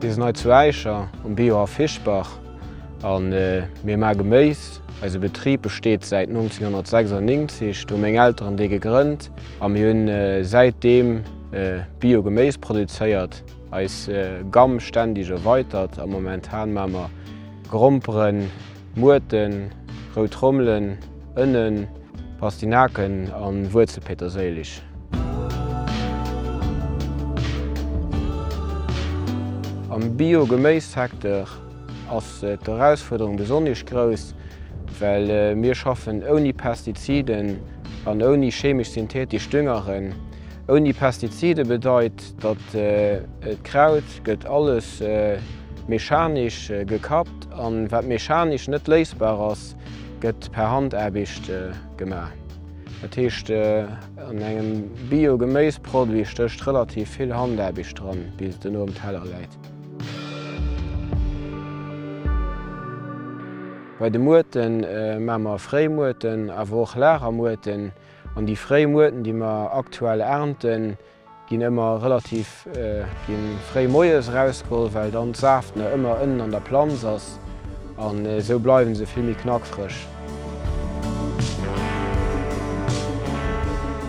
Mir sinn hei zu Äischer um Biohaff Fischbach a mir maa Geméis. Eise Betrib besteet säit 1996. Do hu meng Elteren dee gegrënnt a mir hunn säitdeem Bio-Geméis produzéiert. Eis Gamm ständeg erweitert a momentan maa mer Gromperen, Muerten, rout Trommelen, Ënnen, Pastinaken an Wuerzelpeterséileg. Am Bio Geméis Secteur ass d'Erausfuerderung besonnesch grouss, well mir schaffen ouni Pestiziden an ouni chemesch-synthetesch Düngeren. Ouni Pestizide bedeit gesäit, datt et Kraut gëtt alles mechanisch gekappt an wat mechanisch net léisbar ass, gëtt per Handaarbecht gemaach. Dat heescht an engem Bio-Geméisproduit stécht relativ vill Handaarbecht dran, bis en um Teller läit. Bei de Muerten maache mer Fréimuerten awer och Lagermuerten an déi fréi Muerten, déi mer aktuell ernten, Ginn ëmmer relativ ginn fréi moies erausgeholl well dann d'Saaft nach ëmmer ënnen an der Planz ass an esou bleiwen se vill méi knackfrësch.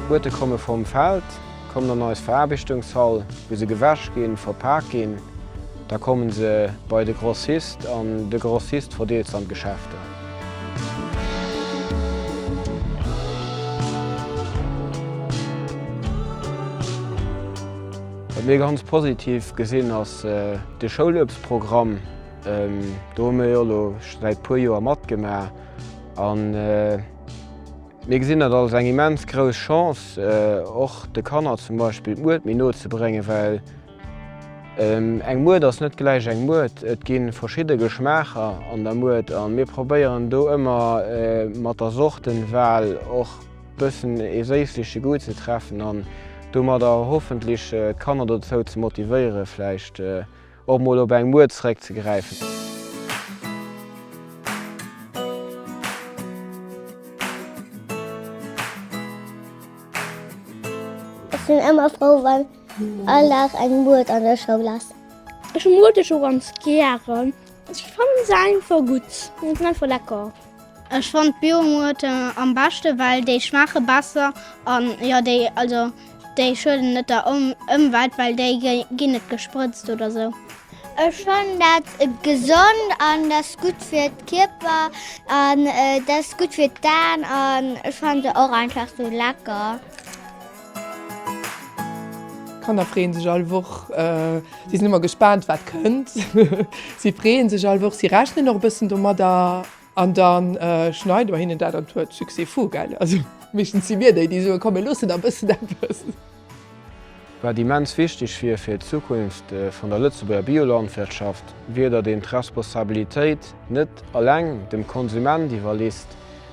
D'Buete komme vom Feld, kommen an eis Veraarbechtungshall wou se gewäsch ginn, verpaak ginn, da kommen se bei de Grossist an de Grossist verdeelt se an d'Geschäfter. Wat mir ganz positiv gesinn ass de Schouluebstprogramm. Do hu mir jo elo scho säit e puer Joer matgemaach an mir gesinn dat als eng immens grouss Chance, och de Kanner zum Beispill d'Muert méi no ze bréngen, well Eng Mued ass net gläich eng Mued. Et gi verschidde Geschmaacher an der Mued a mir probéieren do ëmmer mat der Sortenwal och e bëssen ee séissleche Goût ze treffen an domadder hoffentlech d'Kanner dozou ze motivéieren, vläicht och mol op eng Mued zeréckzegräifen. Ech sinn ëmmer frou, wann All Dag eng Muert an der Schoul ass. Ech muer dech o ganz gären. Ech fannen se einfach gutt, se sinn einfach lecker. Ech fannen d'Biomuerten am beschte well déi schmaache besser an jo déi also déi schueden net der Ëmwelt well déi ginn net gesprëtzt oder sou. Ech fannen dat gesond an dat ass gutt fir d'Kierper an dat ass gutt fir d'Aan an ech fanne se och einfach sou lecker. D'Kanner freeën sech all Woch. Si sinn ëmmer gespaant, wat kënnt. Si freeën sech all Woch, si rechnen och e bëssen domadder. An da schneide mer hinnen dat an d'Huert. Succès fou, gell? Also meeschtens si mir déi, déi soen, komm mir loossen nach e bëssen eppes. Wat immens wichteg wier fir d'Zukunft vun der Lëtzebuerger Biolandwirtschaft, wier, datt een d'Responsabilitéit net eleng dem Konsument iwwerlisst,